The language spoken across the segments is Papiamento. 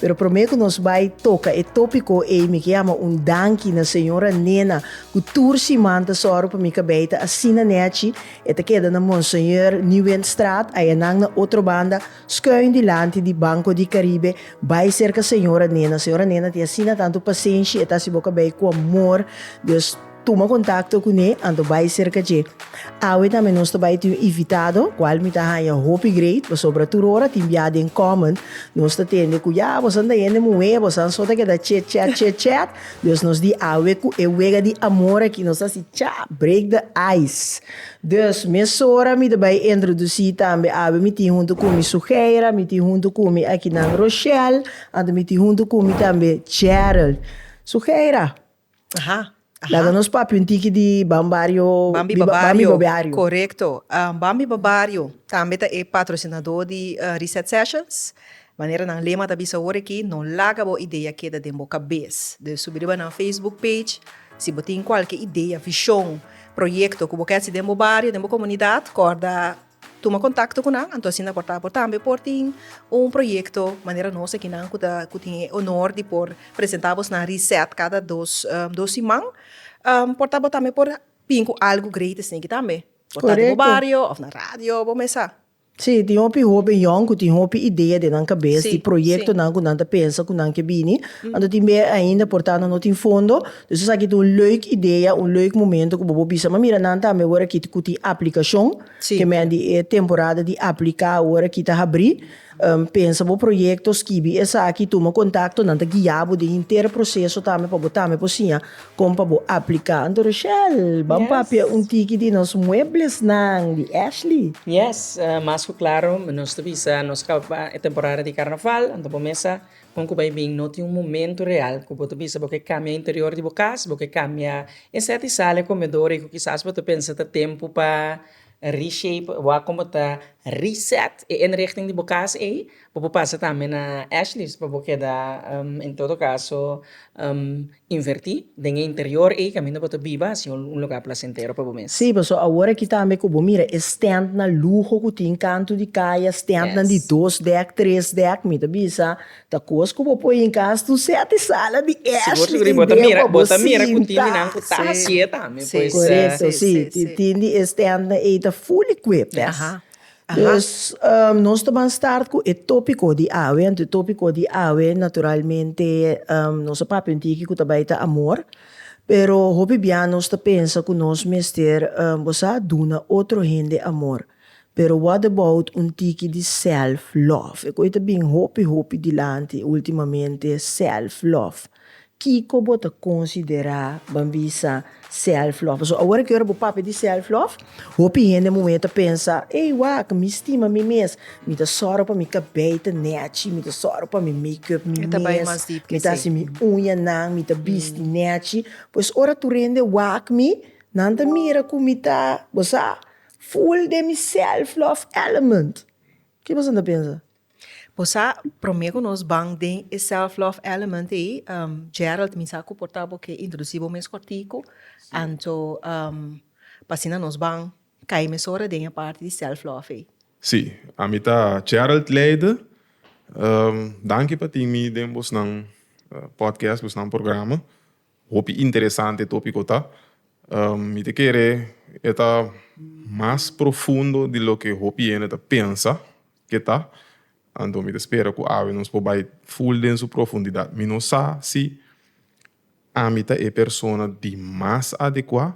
Pero promé ku nos bai toka e tópiko ei mi ke yama un danki na señora Nena ku tur siman ta sòru pa mi kabei ta asina nèchi, e ta keda na Monseigneur Nieuwenstraat ayanan na otro banda skuin dilanti di Banco di Caribe bai serka señora Nena. Señora Nena tin asina tantu pasenshi e ta hasi bo kabei ku amor, dus. Tuma kontakto kuné anto bai serka dje. Awe tambe nos ta bai tin un invitado, kual mi ta haña hopi great, pasobra tur ora tin biaha den kòmen. Nos ta tende ku ya bosan ta hende muhé, bosan so ta keda chit chat, chit chat. Dus nos di awe ku e wega di amor aki, nos ta hasi cha, break the ice. Dus mesora mi ta bai introdusí tambe, awe mi tin huntu ku mi Sugeira, mi tin huntu ku mi akinan Roshelle, anto mi tin huntu ku mi tambe Gerald. Sugeira. Aha, aha. Laga nos papia un tiki di Ban Bario Bambi biba Bambi Babario, Babiario. korekto. Ah, Bambi Babario tambe ta e patrosinadó di ah, Reset Sessions. Manera nan lema ta bisa awor aki, no laga bo idea keda den bo kabes. Dus subi riba nan Facebook page, si bo tin kualke idea, vishon, proyekto ku bo ke hasi den bo bario, den bo komunidat, kòrda Tuma kontakto ku nan, anto asina por ta bo tambe por tin un proyekto manera nos aki nan ku ta ku tin e honor di por presentá bos na reset kada dos dos siman por ta bo tambe por bin ku algu great esei aki tambe por ta den bo bario òf na radio bo mes sa. Sí, tin hopi hoben yòn ku tin hopi idea den nan kabes di proyektonan ku nan ta pensa ku nan ke bini, anto tin mei ainda por ta anto no tin fondo. Dor esaki ta un leuk idea, un leuk momento ku bo por bisa, ma mira nan tambe wor aki ku tin aplikashon, ke men di e temporada di apliká wor aki ta habrí, pensa bo proyekto, skibi esaki, tuma kontakto, nan ta guia bo den henter proseso tambe pa bo tambe por siña kon pa bo apliká. Anto Rashelle, ban papia un tiki di nos mueblesnan di Ashley. Yes, mas ku klaro nos ta bisa nos kaba e temporada di karnaval, anto bo mesa. Kon ku bai bin? No tin un momentu real ku bo ta bisa bo ke kambia e interior di bo kas, bo ke kambia e sèt di sala, e komedor ei ku kisas bo ta pensa ta tempu pa reshape, wak komo ta reset e inrichting di bo kas ei. Bo por pasa tambe na Ashley's pa bo keda en todo kaso. Invertí den e interior ei kaminda bo ta biba si un lugá plasentero pa bo mes. Sí, pasobra awor akí tambe ku bo mira e stèntnan luho ku tin kantu di kaya, stèntnan di dos dèk, tres dèk, mi ta bisa ta kos ku bo poi inka asta un sèti sala di Ashley ei den pa bo sinta. Sí, korekto. Sí, tin di e stèntnan ei ta full equipped. Pues nos ta ban start cu e topico di awe, anto e topico di awe naturalmente nos a papia un tiki cu ta bay ta amor, pero hopi bia nos ta pensa cu nos mester bosa duna otro hende amor, pero what about un tiki di self love, e cu ta bin hopi hopi dilanti ultimamente self love, Kiko bo ta konsiderá ban bisa self love? Pasobra awor aki ora bo papia di self love, hopi hende e momen ta pensa, ey wak, mi stima mi mes, mi ta sòru pa mi kabei ta nèchi, mi ta sòru pa mi make up mi mes, mi ta hasi mi uñanan, mi ta bisti nèchi. Pues ora tur hende wak mi, nan ta mira ku mi ta, bo sa, full den mi self love element. Ke boso ta pensa? Bo sa prome ku nos ban den e self love element ei Gerald mi sa ku por ta bo ke introdusí bo mes kòrtiku anto pa asina nos ban kai mesora den e parti di self love ei. Sí, ami ta Gerald Leyde. Danki pa tin mi den bosnan podcast, bosnan programa. Hopi interesante e tópiko ta. Mi ta kere e ta mas profundo di loke hopi hende ta pensa. Ke ta? Anto mi ta spera ku awe nos por bai ful den su profundidat. Mi no sa si ami ta e persona di mas adekuá,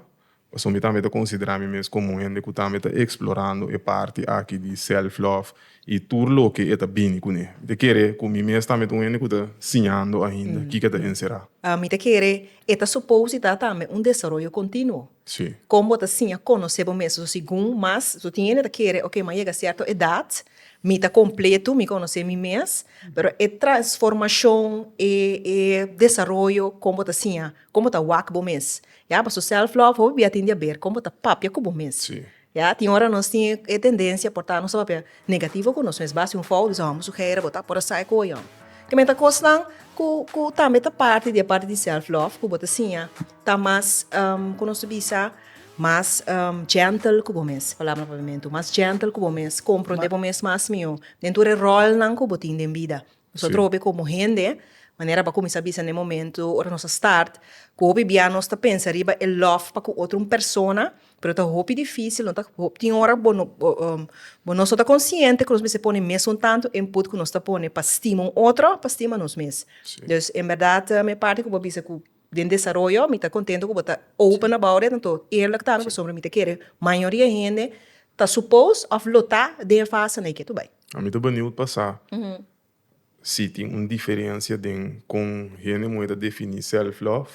pasobra mi tambe ta konsiderá mi mes komo un hende ku tambe ta eksplorando e parti aki di sèlflòf i tur loke e ta bini kuné. Mi ta kere ku mi mes tambe ta un hende ku ta siñando ainda kiko e ta enserá. Mi ta kere e ta supou si ta tambe un desaroyo kontinuo. Sí. Kon bo ta siña konosé bo mes? So segun mas, so tin hende ta kere, oke, mi a yega sierto edat, mi ta kompleto, mi konosé mi mes, pero e transformashon, e e desaroyo, kon bo ta siña, kon bo ta wak bo mes? Ya, pasobra sèlf lòf hopi bia tin diaber kon bo ta papia ku bo mes. Sí. Ya, tin ora nos tin e tendencia porta nos ta papia negativo cu nos mes, ba haci un fout y hombro su gera bo ta por a sa e coyo. Kico mester cosnan cu cu tambe ta parti di e parti di self love cu bo ta siña ta mas cu nos ta bisa mas gentle cu bo mes, palabra papiamento, mas gentle cu bo mes, comprende bo mes mas miyo den tur e rolnan cu bo tin den bida. Nos ta trobe komo hende, manera bo kuminsá bisa na e momentu ora nos a start, ku hopi bia nos ta pensa riba e lòf pa ku otro un persona, pero ta hopi difísil, no ta tin ora bo no bo nos no ta konsiente ku nos mester pone mes un tantu input ku nos ta pone pa stima un otro, pa stima nos mes. Dus en bèrdat mi parti ku bo a bisa ku. Den desaroyo mi ta contento cu bo ta open about it anto eerlijk tami pasobra mi ta kere mayoria e hende ta suppose of lo ta den e fase na e ke tu bay. A mi ta benieuwd pa sa si tin un diferencia den con hende muhé ta defini self love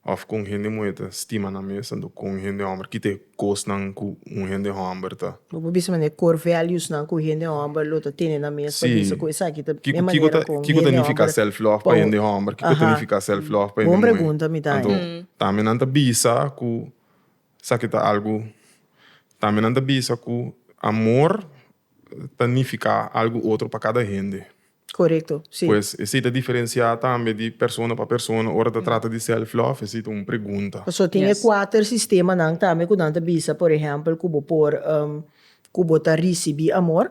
of con hende muhé ta stima nan mes anto con hende homber ki ta Kosnan ku un hende hòmber ta. Bo por bisa manera core values nan ku hende hòmber lo ta tene nan mes pa bisa ku esaki ta e manera kon hende hòmber. Kiko ta nifiká self love pa hende hòmber? Kiko ta nifiká self love pa hende muhé? Bon pregunta mi ta haña. Anto tambe nan ta bisa ku esaki ta algu tambe nan ta bisa ku amor ta nifiká algu otro pa kada hende. Korekto, si. Pues esei ta diferensiá tambe di persona pa persona ora ta trata di self love, esei ta un pregunta. Pasobra tin e kuater sistemanan tambe ku nan ta bisa, por ehèmpel, ku bo por ku bo ta risibí amor,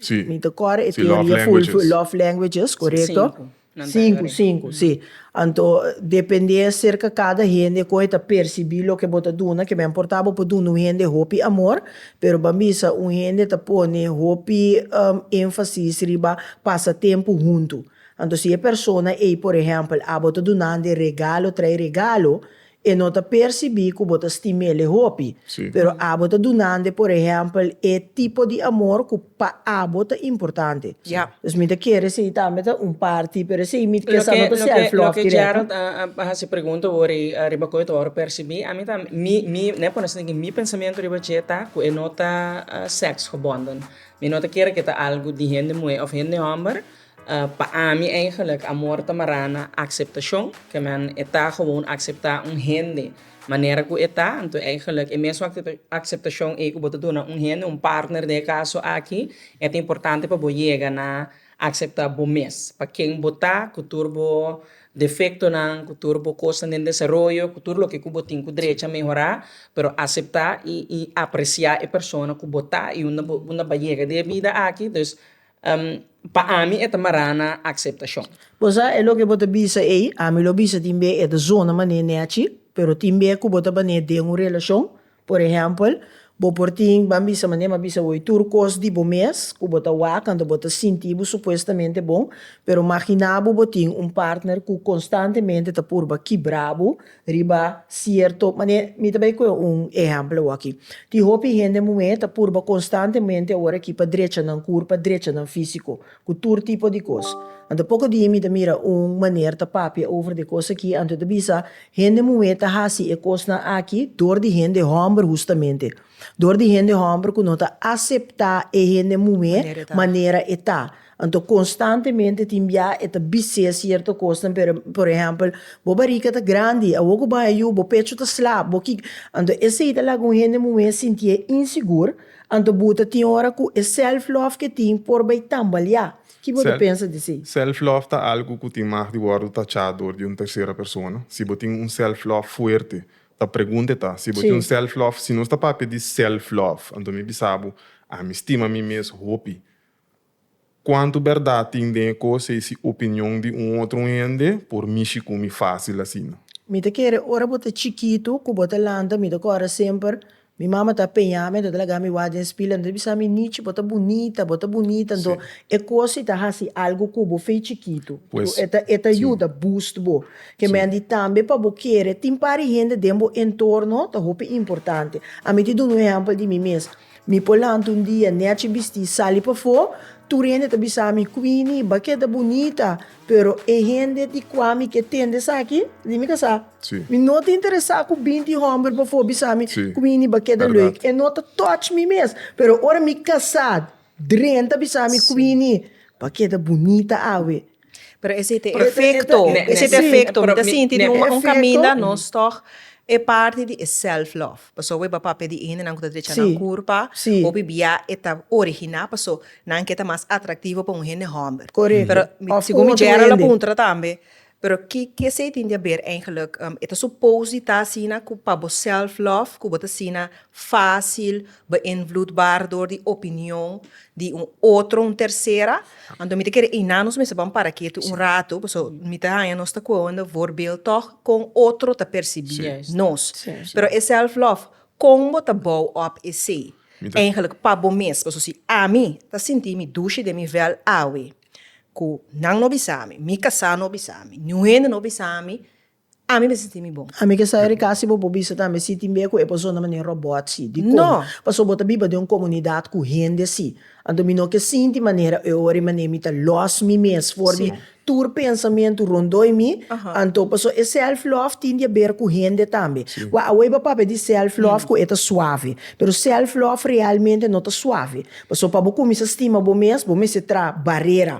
mi ta kòrda e teoria ful ful, love languages, korekto? Sinku, sinku, si. Anto dependé aserka kada hende kon e ta persibí loke bo ta duna, ke men por ta bo por duna un hende hopi amor, Pero ban bisa un hende ta pone hopi énfasis riba pasa tempu huntu. Anto si e persona ei, por ehèmpel, a bo ta dunande regalo trae regalo, e no ta persibí ku bo ta stim'é le hopi. Pero a bo ta dunande, por ehèmpel, e tipo di amor ku. Pa abo ta importante. Dus mi ta kere esei tambe ta un parti, pero esei mi kesa no ta self love directo. Loke Gerald a hasi pregunta wori riba ku e ta wòrdu persibí, ami ta mi mi n'e pone esaki, mi pensamiento riba dje ta ku e no ta sex gebonden. Mi no ta kere ku e ta algu di hende muhé òf hende hòmber, Pa ami eigenlik amor ta mará na akseptashon, ke men e ta gewoon akseptá un hende manera ku e ta, anto eigenlik e mesun akseptashon ei ku bo ta duna un hende, un partner den e kaso aki, e ta importante pa bo yega na akseptá bo mes, pa ken bo ta, ku tur bo defektonan, ku tur bo kosnan den desaroyo, ku tur loke ku bo tin ku drecha mehorá, pero aseptá i apresiá e persona ku bo ta i unda bo unda bo a yega den e bida aki, dus. Pa ami e ta mará na akseptashon. Bo sa e loke bo ta bisa ei? Ami lo bisa tin bia e ta zona mané nèchi, pero tin bia ku bo ta bané den un relashon. Por ehèmpel, bo por tin, ban bisa mané m'a bisa bo ei, tur kos di bo mes ku bo ta wak kantu bo ta sinti bo supuestamente bon. Pero maginá bo bo tin un partner ku konstantemente ta purba kibra bo Riba sierto manera, mi ta bai coge un ehemplo awaki. Tin hopi hende muhe ta purba constantemente ora aki pa drecha nan cur, pa drecha nan fisico, cu tur tipo di cos. Anto poco dia mi ta mira un maner ta papia over di e cos aki, anto e ta bisa, hende muhe ta haci e cosnan aki door di hende homber hustamente. Door di hende homber cu no ta acepta e hende muhe manera e ta. Anto konstantemente tin bia e ta bis'é sierto kosnan pero por ehèmpel bo barika ta grandi awor ku bo yu bo pecho ta sla bo ki anto esei ta laga un hende muhé sintié insigur anto bo ta tin ora ku e self love ke tin por bai tambaleá ki bo ta pensa di si? Self love ta algu ku tin mag di wòrdu tachá dor di un tersera persona si bo tin un self love fuerte ta pregunta e ta si bo tin un self love si nos ta papia di self love anto mi bisa bo ami stima mi mes hopi Cuantu berdad tin den e cos ei si opinion di un otro hende por mishi cu mi facil asina. Mi ta kere ora bo ta chikitu cu bo ta lanta mi ta corda semper mi mama ta peña mi anto ta laga mi wak den spila anto ta bisa mi Nichi bo ta bunita bo ta bunita anto e cos si ta haci algo cu bo fei chikitu cu e ta e ta yuda boost bo ke mendi tambe pa bo kere tin pari hende den bo entorno ta hopi importante ami tin dunu ehempel di mi mes Mi por lanta un dia nechi bistí, sali pafó, tur hende ta bisa mi, Queenie, ba keda bunita, pero e hende di kua mi ke tende esaki, di mi kasá, mi no ta interesá ku binti hòmber pafó bisa mi, Queenie, ba keda lèk. E no ta touch mi mes. Pero ora mi kasá, Dren ta bisa mi, Queenie, ba keda bunita awe. Pero esei ta efecto, esei ta efecto, mi ta sinti di un caminda nos tok e parti di e self love, pasobra awe papá p'e di endenan ku ta drecha nan kurpa, hopi bia e ta originá paso nan ke ta mas atractivo pa un hende hòmber, pero segun mi bèra lo puntra tambe, pero ki esei tin di haber eigenlijk, e ta supos di ta asina ku pa bo self love ku bo ta asina fácil beïnvloedbaar dor di opinion di un otro, un tercera, Anto mi ta kere einá nos mester ban para ketu un ratu, pasobra mi ta haña nos ta koanda vorbeel tòg kon otro ta persibí nos. Pero e sèlflòf, kon bo ta bou òp esei? Eingelik pa bo mes, pasobra si ami ta sinti mi dushi den mi vèl awe, ku nan no bisa mi, mi kasá no bisa mi, niun hende no bisa mi, Ami me sinti mi bon. Ami ke sa Erika si bo por bisa ta me sinti bien ku e persona manera robot si. Dikon? Paso bo ta biba den un komunidat ku hende asi. Anto mi no ke sinti manera e ora i manera mi ta lòs mi mes for di tur pensamentu rondoi mi. Anto paso e self love tin di a ber ku hende tambe. Kua awor bo a papia di self love ku e ta suave. Pero self love realmente no ta suave. Paso pa bo kuminsá stima bo mes bo mester traha barera.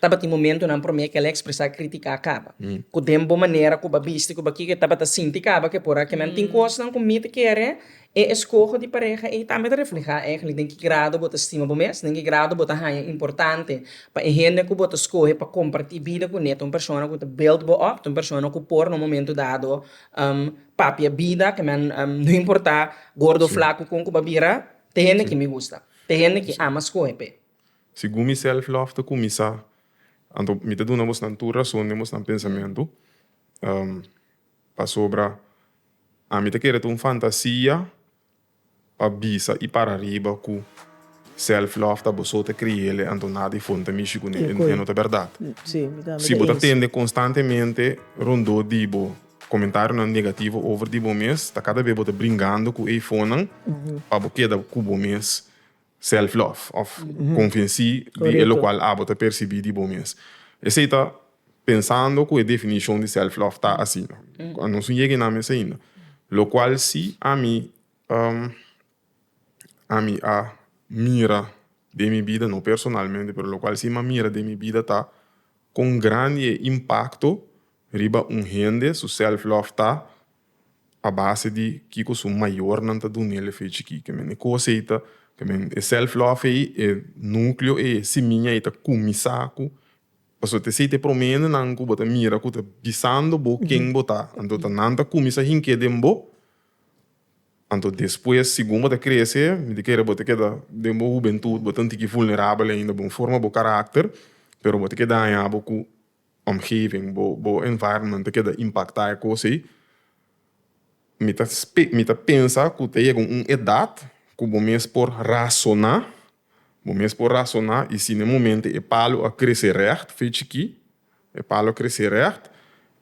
Tabatin momentunan promé kel ekspresá kritiká kaba, ku den bo manera ku bo a bisti, ku bo a kiko e tabata sinti kaba ke por a kinan. Tin kosnan ku mi ta kere e eskoho di pareha ei tambe ta reflehá èkli den ki grado bo ta stima bo mes, den ki grado bo ta haña importante pa e hende ku bo ta skohe pa kompartí bida kuné ta un persona ku ta build bo up, ta un persona ku por na un momentu dado papia bida, kinan no importá gordo o flaku kon ku bo a bira, ta hende ki mi gusta, ta hende ki ama skohe p'e. Segun mi self-love ta kuminsá, anto mi ta duna bosnan tur rason den bosnan pensamentu, pasobra ami ta kere ta un fantasia pa bisa i para riba ku self-love ta bo so ta kriele, anto nada di fon ta mishi ku ne, e no ta bèrdat. Si bo ta tende konstantemente rondó di bo komentarionan negativo over di bo mes, ta kada bes bo ta bringando ku e fonnan pa bo keda ku bo mes. Self-love, of konfensí di e lokual abo ta persibí di bo mes. Esei ta pensando ku e definishon di self-love ta asina. Nos no yega inami esei ainda. Lokual si ami ami a mira den mi bida, no personalmente, pero lokual si ami a mira den mi bida ta kon grandi e impakto riba un hende su self-love ta. pa base di kiko su mayornan ta dunel ef ei chikí. Ke men e kos ei ta, ke men e self love ei, e nukleo ei, e simiña ei ta kuminsá ku, pasobra ta esei ta e promé hendenan ku bo ta mira ku ta bisando bo ken bo ta. Anto ta nan ta kuminsá hink'é den bo, anto despues segun bo ta krese mi ta kere bo ta keda den bo hubentut bo ta un tiki vulnerabel ainda bo forma bo karakter pero bo ta ke daña bo ku omgeving, bo bo environment ta keda impacta e cos ey. Mi ta spe mi ta pensa cu ta yega un edad cu bo mes por razona, bo mes por razona y si n'e momento e palo a crece recht fe chiki, e palo a crece recht,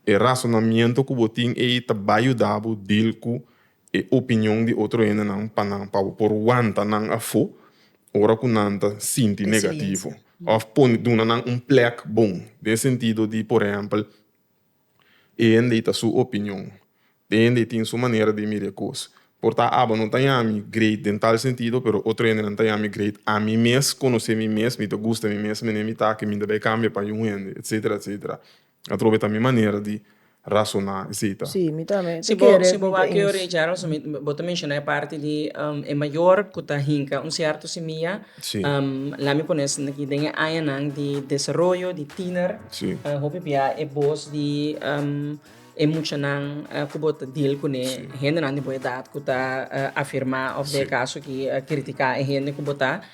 e razonamiento cu bo tin ey ta bay yuda bo deal cu e opinion di otro hendenan pa nan pa bo por wanta nan afó ora ku nan ta sinti negativo òf pone duna nan un plèk bon den e sentido di por ehèmpel e hende ta su opinion e hende tin su manera di mira e kos por ta abo no ta yami great den tal sentido pero otro hendenan ta yami great ami mes konosé mi mes mi ta gusta mi mes mené mi ta aki mi ta bai kambia pa un hende etcetera etcetera Atrobe ta mi manera di rasoná, esei ta. Sí, mi tambe. Si bo si bo wak e orecha Aronson mi bo ta menshoná e parti di e mayor ku ta hinka un sierto semia lami pone esei aki den e añanan di desaroyo di tiner hopi bia e bos di e muchanan ku bo ta deal kuné hendenan di bo edat ku ta afirmá òf den e kaso aki kritiká e hende ku bo ta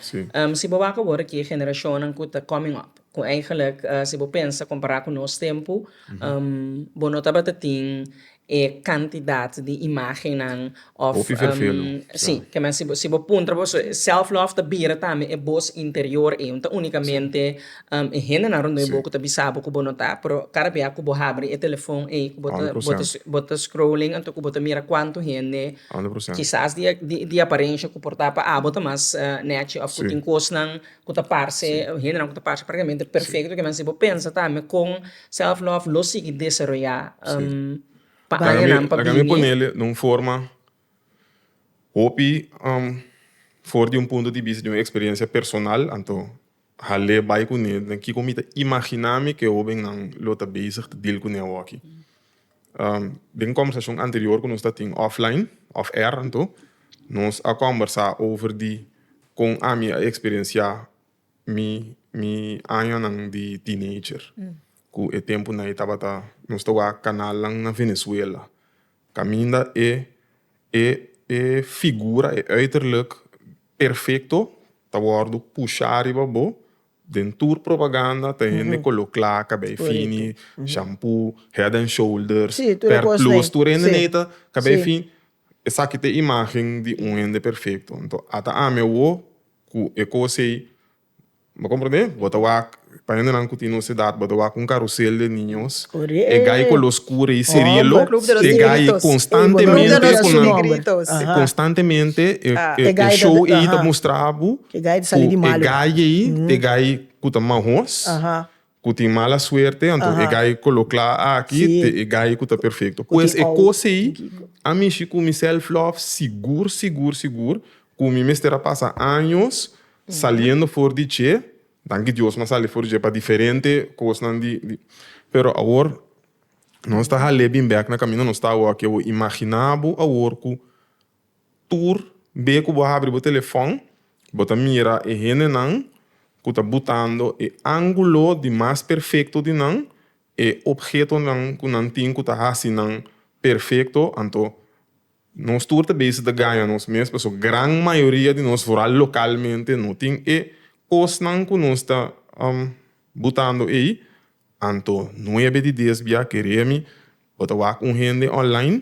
si bo wak awor aki e generashonnan ku ta coming up Cu eigenlijk si bo pensa compara cu nos tempo, bo no tabata tin e cantidad di imagennan of. Hopi vervelu. Sí, ke men si bo si bo puntra bo so self love ta bira tambe e voz interior ey, no ta unicamente e hendenan rondey bo cu ta bisa bo cu bo no ta, pero cada bia cu bo habri e telefon ey cu bo ta bo ta bo ta scrolling anto cu bo ta mira cuanto hende, kisas di di aparentia cu por ta pa abo ta mas nechi of cu tin cosnan. ku ta parse hendenan ku ta parse praktikamente perfekto kimen si bo pensa tambe kon self love lo sigui desaroyá pa añanan pa bini. Laga mi ponel den un forma hopi for di un punto di bista di un eksperensia personal anto hal'e bai kuné den kiko mi ta imaginá mi ku e hobennan lo ta bezig ta deal kuné awo'aki. Den kombersashon anterior ku nos ta tin offline, off air anto, nos a kombersa over di kon ami a eksperensiá mi mi añanan di teenager. Ku e tempunan ei tabata nos ta wak kanalnan na Venezuela. Kaminda e e e figura, e uiterlijk perfekto ta wòrdu pushá riba bo Den tur propaganda ta hende colo cla, cabey fini, shampoo, head and shoulders, per plus, tur hende ney ta cabey fini. Esaki ta e imagen di un hende perfecto. Enton ata ami awo cu e cos ey, bo comprende? Bo ta wak, pa hendenan cu tin nos edad, bo ta wak un carusel de niños, e gai color oscuro ey serelo, e gai constantemente, constantemente e show ey ta mustra bo. E gay ta sali di malu. Ku e gay ei, e gay ku ta mahos, ku tin mala suerte, anto e gay ku lo kla aki ta e gay ku ta perfekto. Pues e kos ei a mishi ku mi self-lov sigur, sigur, sigur ku mi mester a pasa años saliendo for di dje. Danki Dios mi a sali for di dje pa diferente kosnan di. Pero awor nos ta hal'é bin bèk na kaminda nos ta awo aki. Awor, imaginá bo awor ku Tur be ku bo habri bo telefòn, bo ta mira e hendenan ku ta butando e ángulo di mas perfekto di nan, e ophetonan ku nan tin ku ta hasi nan perfekto. Anto nos tur ta bisita gaña nos mes, pasobra gran mayoria di nos, foral lokalmente, no tin e kosnan ku nos ta butando ei. Anto nuebe di dies bia, kere mi, bo ta wak un hende online,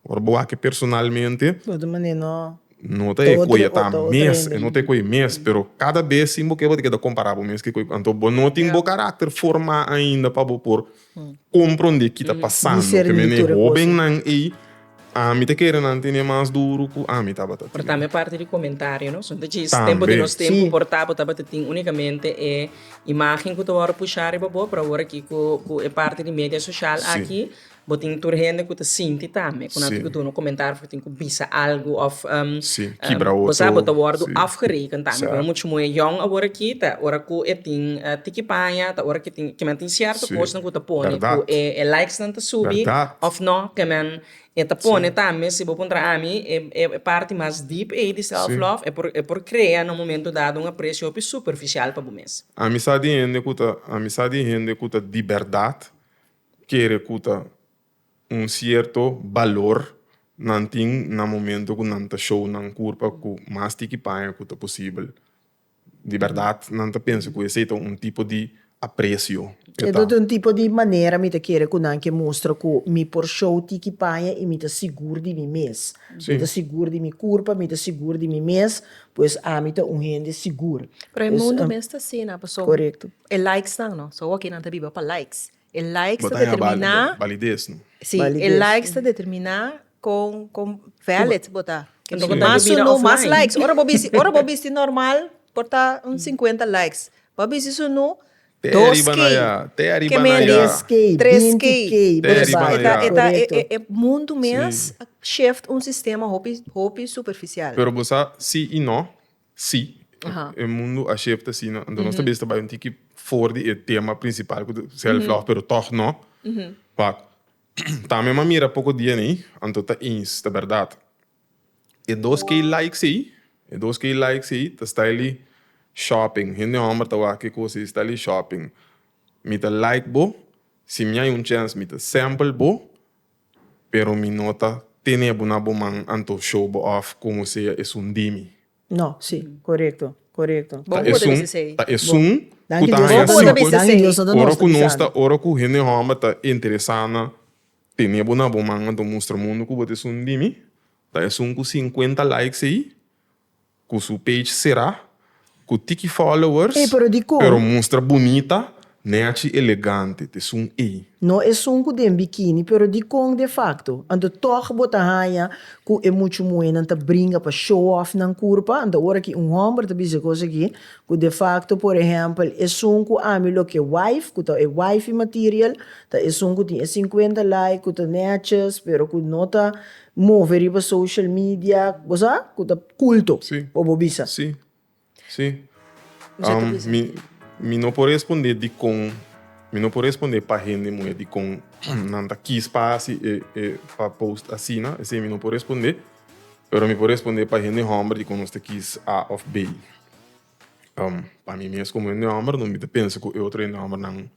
Ora bo wak e personalmente. Bo ta mane no. No ta e koe ta mes, no ta e koe mes, pero kada bes sin bo keba di keda kompará bo mes ku e. Anto bo no tin bo karakter forma ainda pa bo por komprondé ki ta pasando. Te mene e hóbennan ei, ami ta kere nan tene mas duru ku ami tabata tene. Tambe parti di komentario no, son ta djis tempu di nos tempu por ta bo tabata tin únikamente e imágen ku ta wòrdu pushá riba bo, pero awor aki ku e parti di media sosial aki. Bo tin tur hende ku ta sinti tambe ku nan tin ku duna komentario ku tin ku bisa algu òf bo sa bo ta wòrdu afgereken tambe ku nan muchu moe yòn awor aki ta ora ku e tin tiki paña ta ora ku kimen tin sierto kosnan ku ta pone ku e likesnan ta subi òf nò kimen e ta pone tambe si bo puntra ami e parti mas deep ei di self love e por krea na un momento dado un aprecio hopi superficial pa bo mes. Ami sa di hende ku ta ami sa di hende ku ta di bèrdat kere ku ta un sierto balor nan tin na momento ku nan ta show nan kurpa ku mas di ki paña ku ta posibel. Di bèrdat nan ta pensa ku esei ta un tipo di apresio. E ta un tipo di manera mi ta kere ku nan ke mustra ku mi por show di ki paña i mi ta sigur di mi mes. Mi ta sigur di mi kurpa, mi ta sigur di mi mes, pues ami ta un hende sigur. Pero e mundu mes ta asina pasobra E likes nan no. So awor kinan ta biba pa likes. E likes ta determina. Bo ta haña balidez no. Si, e likes ta determina con con valid bo ta. Kende ku ta biba offline. Mas likes, ora bo bisti ora bo bisti normal por ta un sinkuenta likes. Bo a bisti su nu, dos k. Te ariba na ya. Tres k, tres k. Te ariba na ya. Eta eta e mundu mes a shift un sistema hopi hopi superficial. Pero bo sa si i no. Si, e mundu a shifta asina. Anto nos ta bisa ta bai un tiki for di e tema prinsipal ku ta self love, pero tòg no. Wak, tambe mi a mira poko dia ni, anto ta eens, ta bèrdat. E dos K likes ei, e dos K likes ei ta sta eli shopping. Hende hòmber ta wak e kos ei sta eli shopping. Mi ta like bo, si mi a hay un chèns mi ta sèmpel bo, Pero mi no ta tene bo na bo man anto show bo off como sea esun di mi. No, si, corecto, corecto. Ta esun, ta esun cu ta haya sico, ora cu nos ta, ora cu hende homber ta interesa na tene bo na bo man anto mustra mundo cu bo ta esun di mi, ta esun cu cincuenta likes ey, Cu su page cerá, cu tiki followers. Ey, pero di con? Pero mustra bunita, ne haci elegante, te sun ey. No esun cu den bikini, pero di con de facto? Anto toch bo ta haña cu e mucho muhenan ta bringa pa show off nan curpa? Anto ora ki un homber ta bis'e cos aki, cu de facto, por ehempel, esun cu ami lo ke wife, cu ta e wifey material, ta esun cu tin e cincuenta like, cu ta neaches, pero cu no ta Move riba social media bo sa cu ta culto Sí. o bo bisa. Sí. Sí. Mester ta Am, bisa. mi, mi no por respondé dicon, mi no por respondé pa hende moe dicon nan ta kis pa haci e, e, pa post asina, esei mi no por respondé, pero mi por respondé pa hende homber dicon nos ta kis A of B. Am, pa mi mes como hende homber, no mi ta pensa cu e otro hende homber nan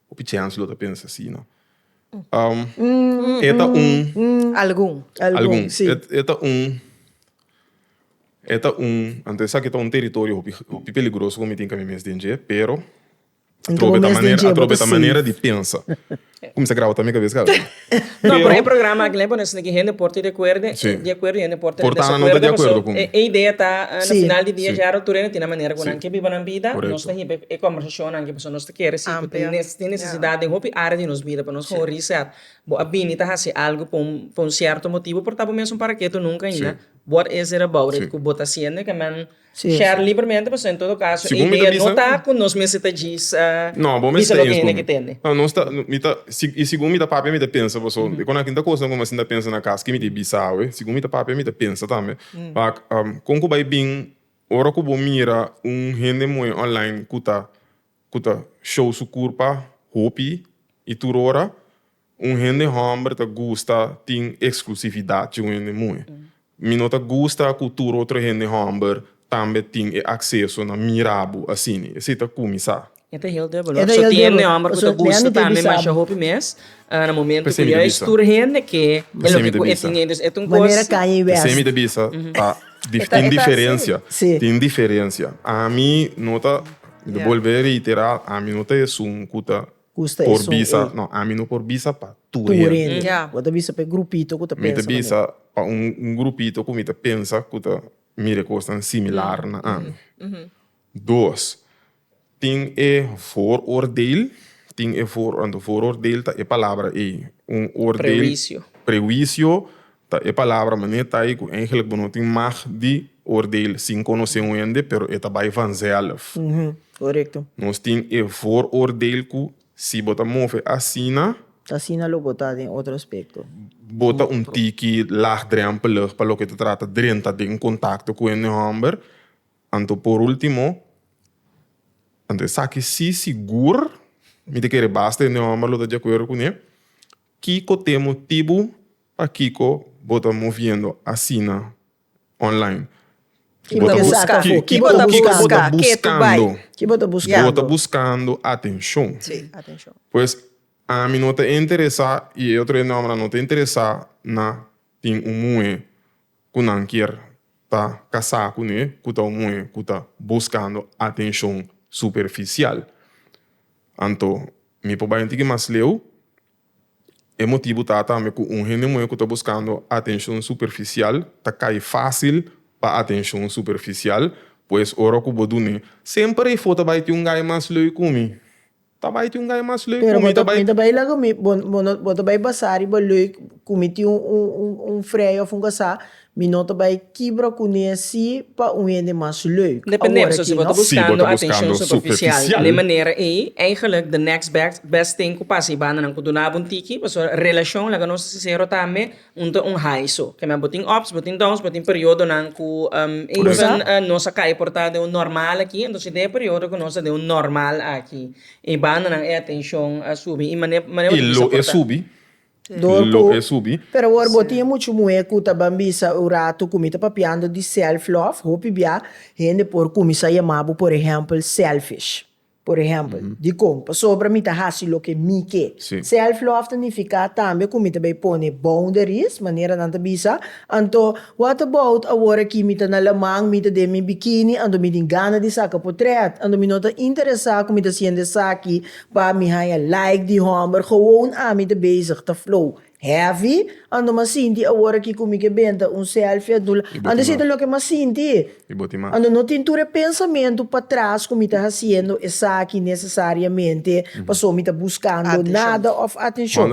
Hopi chèns lo ta pensa asina. E ta un. Algun. Algun, si. E ta un, e ta un, anto esaki e ta un teritorio hopi, hopi peligroso ku mi tin ka mi mes den dje, pero atrobe ta manera, atrobe ta manera di pensa. Ku mi sa graba ta mi kabes kabe? No, pero e programa aki lembra nos di hende por ta di akuerdo di akuerdo hende por ta desakuerdo pasobra e e idea ta na final di dia yara tur hende tin manera ku nan ke biba nan bida nos ta hiba e kòmbersashonnan aki pasobra nos ta kere si tin tin nesesidat den hopi área di nos bida pa nos haña reset bo a bini ta hasi algu pa un pa un sierto motibu por ta bo mesun para ketu nunka ainda whot is it about it ku bo ta hasiendo e ke men Sherley primeramente pasobra en todo caso e idea no ta cu nos mester ta djisa djisa loke hende ke tende. Y segun mi ta papia mi ta pensa paso e konanke tin cosnan cu mi asin ta pensa na cas ke mi ta bisa awe segun mi ta papia mi ta pensa tambe con cu bay bin ora cu bo mira un hende moe online cu ta show su curpa hopi y tur ora. Un hende hòmber ta gusta tin eksklusividat cu un hende muhe. Mi no ta gusta cu tur otro hende hòmber tambe tin e akseso na mira bo asina. Esei ta kuminsá. E ta hel debel hopi. So tin hende hòmber cu ta gusta tambe masha hopi mes na momento cu juist tur hende ke e loke cu e tin ei. Entonces e ta un cos. Pesei mi ta bisa ta tin diferencia, tin diferencia. Ami no ta, mi ta bolbe reiterá, ami no ta esun cu ta Gusta e por bisa, son ey. no, ami no por bisa pa tur Tur hende. hende. Ja. Bo ta bisa pa e grupito ku ta Mi ta pensa bisa manera. pa un un grupito ku mi ta pensa ku ta mira e kosnan similar na ami. Dos, tin e vooroordeel, tin e voor, anto vooroordeel ta e palabra ey, un oordeel, Prehuicio. prehuicio, Ta e palabra manera ta ei cu eigenlijk bo no tin mag di oordeel sin conoce un hende, pero e ta bay vanzelf. Corecto. Nos tin e vooroordeel cu si bo ta move asina, Ta asina lo bo ta den otro aspecto. bo ta un tiki laagdrempelig pa loke ta trata drenta den contacto cu hende homber. Anto por ultimo, anto esaki si sigur, mi ta kere basta hende homber lo ta di acuerdo cune, kico te motibu Pakiko bo ta moviendo asina online? Ki bo ta buska? Ki bo ta buska? Ke tu bai? Ki bo ta buska? Bo ta buskando atenshon. Pues ami no ta interesa i e otro e nombranan no ta interesa na tin un muhe ku nan kier ta kasá kuné ku ta un muhe ku ta buskando atenshon superfisial. Anto mi por bai un tiki mas leu E motibu ta tambe ku un hende muhé ku ta buskando atenshon superfisial ta kai fásil pa atenshon superfisial. Pues ora ku bo dun'é. Semper ei fo ta bai ti un gai mas leu ku mi. Ta bai ti un gai mas leu ku mi. Ta bai. Pero bo ta bai laga mi. Bo ta bai basá riba leu ku mi tin un frei òf un kasá. Mi no ta bai kibra kuné así pa un hende mas leuk. Depende so si bo ta buskando atenshon superfisial den e manera ei, eigenlik the next best thing ku pasa i bandanan ku dunabo un tiki, pasobra relashon, laga nos ta sinsero tambe, un ta un high. So, ke mei bo tin ups, bo tin downs, bo tin periodonan ku even nos a kai por ta den un normal aki, entonces den e periodo ku nos ta den un normal aki, i bandanan e atenshon a subi i mane bo ta bisa por ta. Dor ku, pero awor bo tin muchu muhé ku ta ban bisa un ratu ku mi ta papiando di self love, hopi bia hende por kuminsá yamá bo por ehèmpel selfish. Por ehèmpel, dikon? Pasobra mi ta hasi loke mi ke. Self love ta nifiká tambe ku mi ta bai pone boundaries, manera nan ta bisa, anto what about awor aki mi ta na laman, mi ta den mi bikini, anto mi tin gana di saka potrèt, anto mi no ta interesá ku mi ta siente esaki Pa mi haña like di hòmber gewoon ami ta bezig ta flow heavy anto m'a sinti awor aki ku mi ke benta un selfie a dul anto esei ta loke m'a sinti anto no tin tur e pensamentu patras ku mi ta hasiendo esaki nesesariamente paso mi ta buskando nada òf atenshon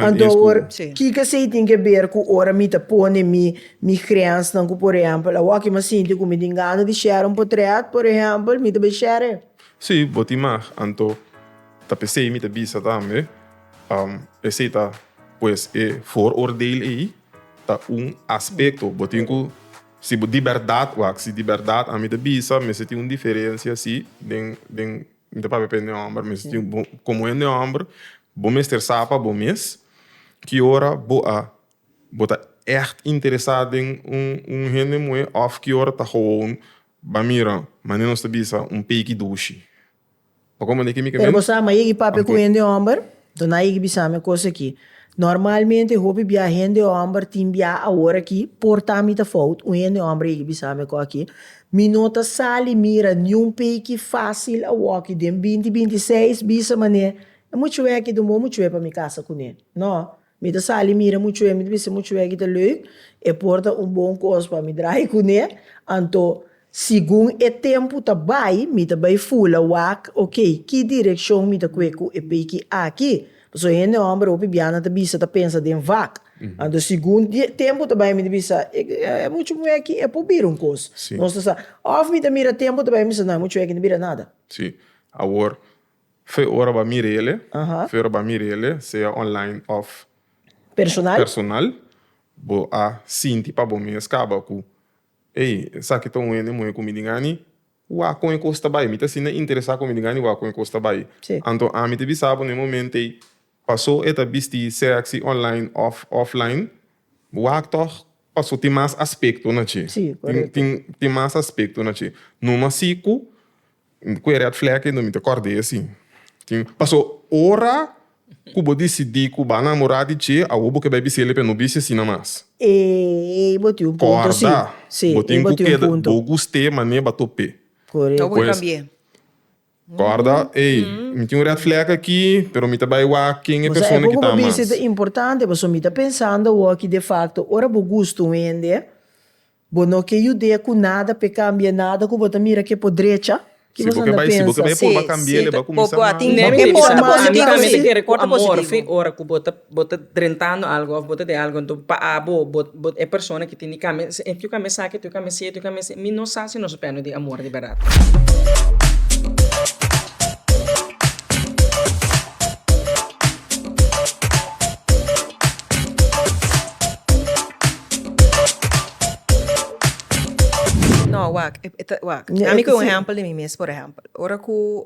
anto awor kiko esei tin ke ber ku ora mi ta pone mi mi grensnan ku por ehèmpel awor aki m'a sinti ku mi tin gana di shèra un potrèt por ehèmpel mi ta bin shèra e. Si bo tin mag, anto ta p'esei mi ta bisa tambe, esei ta pues e vooroordeel ei ta un aspecto. Bo tin cu si bo di berdad, wak, si di berdad ami ta bisa mester tin un diferencia si den den mi ta papia pa hende homber mester tin bo como hende homber bo mester sa pa bo mes ki ora bo a bo ta echt interesa den un un hende muhe of ki ora ta gewoon Ba mira mane nos ta bisa un peki dushi. Pa kon mane ke mi ke Pero bo sa, ma yegi papia ku hende hòmber? Do nan a yegi bisami e kos aki. Normalmente hopi bia hende hòmber tin bia aworakí, por ta mi ta fout, un hende hòmber a yegi bisami e kos aki, Mi no ta sali mira niun peki fásil awoki den binti binti seis, bisa mane, e muchu'e aki dun bo muchu'e pa mi kasa kuné. No. Mi ta sali mira muchu hende, mi ta bisa muchu hegi ta leuk, e por ta un bon kos pa mi draaie kuné, anto segun e tempu ta bai, mi ta bai fula wak, ok, ki direkshon mi ta kue ku e peiki aki? Pasobra hende hòmber hopi biaha ta bisa, ta pensa den vak, anto segun tempu ta bai mi ta bisa, e muchu muhé aki e por bira un kos, nos ta sa, òf mi ta mira tempu ta bai mi ta bisa, nah e muchu aki no bira nada. Sí, awor Fe ora ba mira ele, fe ora ba mira ele, sea online of personal, bo a sinti pa bo mes caba cu, Ey, esaki ta un hende moe cu mi den Annie, wak con e cos ta bay, mi ta asina interesa con mi den Annie, wak con e cos ta bay. Anto ami ta bisa bo na e momentey. Paso e ta bisti sexy online of offline. Wak toch paso tin mas aspecto na ci. Sí, correcto. Tin tin tin mas aspecto na ci. Numa si cu cu e red flag ey no minte corde ey si. Tin paso ora cu bo dicidi cu ba namora di dje awor bo ke bay bisel ey pe no bisti asina mas. Ey bo tin un punto si. Corda. Sí, Bo ey tin bo cu tin un keda punto. bo guste mane ba tope. Correcto. Ta Pues. wika bie. Corda, Ey, mi tin un red flag aki, pero mi ta bay wak ken e persona ki ta mas. Esta importante paso mi ta pensando awo aki de facto ora bo gusta un hende, bo no ke yud'é ku nada p'e kambia nada ku bo ta mira ke por drecha. Ke bo esnan ta pensa? Si bo ke bay, si bo ke bay purba kambia el, el bay kuminsa mal. Nèmi ta importa ku ami tambe ta kere ku amor fin ora ku bo ta Bo ta drentando algo of bo ta den algo enton pa abo bo bo e persona ki tin di cambia si e tin cambia esaki e tin cambia esi e tin cambia esi mi no sa si nos papia no tin amor di verdad. No wak e ta wak ami cu un ehempel di mi mes por ehempel ora cu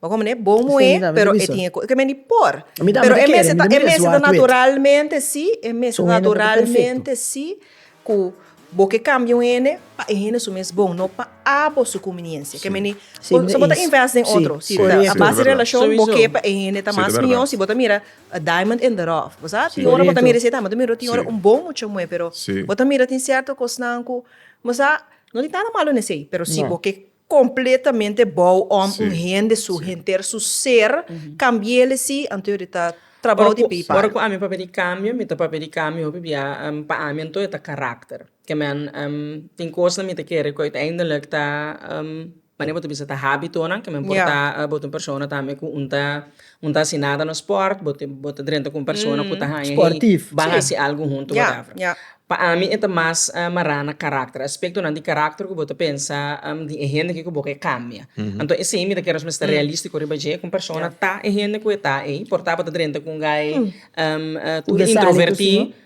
Bo komo ne bo moe pero e tin e kos. Kementi por. Pero e mester ta e mester ta naturalmente si e mester ta naturalmente si ku bo ke kambia un hende pa e hende su mes bon no pa abo su kuminiensia. Kementi si bo ta invest den otro si ta a base di relashon bo ke pa e hende ta mas miyon si bo ta mira a diamond in the rough. Bo sa tin ora bo ta mira esei tambe bo ta mira tin ora un bon mucha moe pero bo ta mira tin sierto kosnan ku bo sa no tin nada malo nesei pero si bo ke Completamente bou om un hende su henter su ser cambiele si anto yo di ta trabao di pei para. Ora cu ami papia di cambio mi ta papia di cambio hopi bia pa ami anto e ta caracter ke men tin cosnan mi ta kere cu uiteindelek ta mane bo ta bisa ta habitonan ke men por ta bo ta un persona tambe cu un ta Un ta asina ta na sport, bo te bo ta drenta ku un persona ku ta haña hei ban hasi algu huntu watèvè. Pa ami e ta mas mará na karakter, aspektonan di karakter ku bo ta pensa di e hende ke ku bo ke kambia. Anto esei mi ta kere nos mester realístiko riba dje, ku un persona ta e hende ku e ta ei, por ta bo ta drenta ku un guy tur introvertí.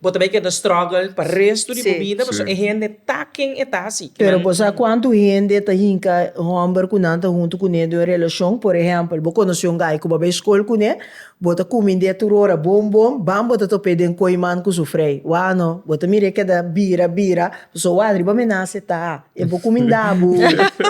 Bo ta bay keda struggle pa resto di bo bida pasobra e hende ta ken e ta si. Pero bo sa cuanto hende ta hinca e homber cu nan ta hunto cu ne den un relacion? Por ehempel, bo conoci un guy cu bo a bay scol cu ne, bo ta cuminde tur ora bon bon, bam bo ta topae den coiman cu su frey. Wao no, bo ta mirae keda bira bira, pasobra wao riba menase ta. E bo kumindabu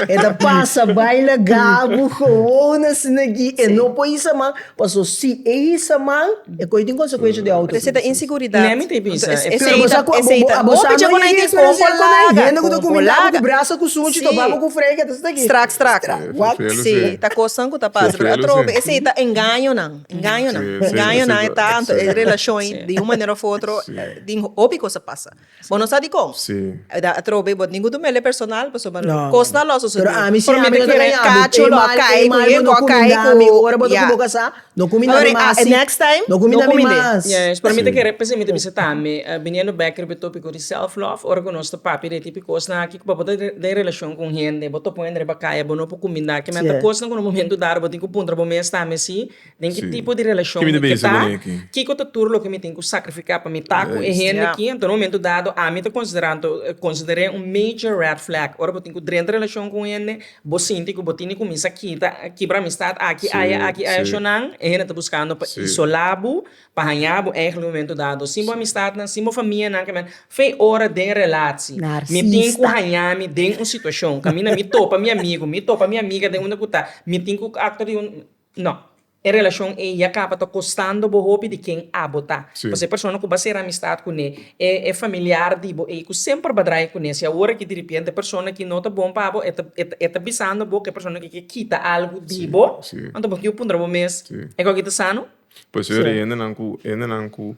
e ta pasa bai na gabu gowona asina aki e no por hisa man paso si e hisa man e koyo tin konsekuensha di auto Esei ta inseguridat. Nami ta bisa. Pero bo sa ku abo sa no bai di eksperensia ku nan hende ku ta kumindabu ku brasa ku sunchi topabu ku frei ke ta sinti aki. Strak strak. What? Si, ta kosnan ku ta pasa. Pero atrobe esei ta engaño nan. Engaño nan. Engaño nan e ta. Anto e relashon ei di un manera of otro tin hopi kos a pasa. Bo no sa di con. Si. Ta trobe bo ningu tu mele personal paso bo no. Cos na lo sucede. Pero ami si ami ta kere yabi. Cacho lo a cay cu ye go cay cu. Ami ora bo ta cu bo casa no cu mi na mi mas si. Next time no cu mi na mi mas. Yes pero mi ta kere p'esei mi ta bisa tambe biniendo back riba e topico di self love ora cu nos ta papia di e tipo cos na aki cu bo ta den relacion cu un hende bo topo hende riba caya bo no por cuminda kimente cos na cu na un momento dado bo tin cu puntra bo mes tambe si Den ki tipo di relashon mi ke ta? Kiko ta tur loke mi tin ku sakrifiká pa mi ta ku e hende aki? Anto na momentu dado ami ta konsiderá, anto konsider'é un major red flag. Ora bo tin ku drenta relashon ku un hende bo sinti ku bo tin di kuminsá kita kibra amistat aki aya aki aya sho nan e hende ta buskando pa isolá bo pa hañá bo èglu momentu dado sin bo amistatnan sin bo famianan kèmen fe ora den relatsi mi tin ku hañá mi den un situashon kaminda mi topa mi amigu mi topa mi amiga den unda ku ta mi tin ku aktua di un. No. E relashon ei ya kaba ta kostando bo hopi di ken abo ta. Pasobra e persona ku bo a sera amistat kuné, e familiar di bo ei ku semper bo a draya kuné, si awor aki diripiente e persona ki no ta bon pa bo, e ta bisando bo ku e persona ki ke kita algu di bo, anto bo tin ku puntra bo mes, E gok ei ta sano? Por eso e hende nan ku.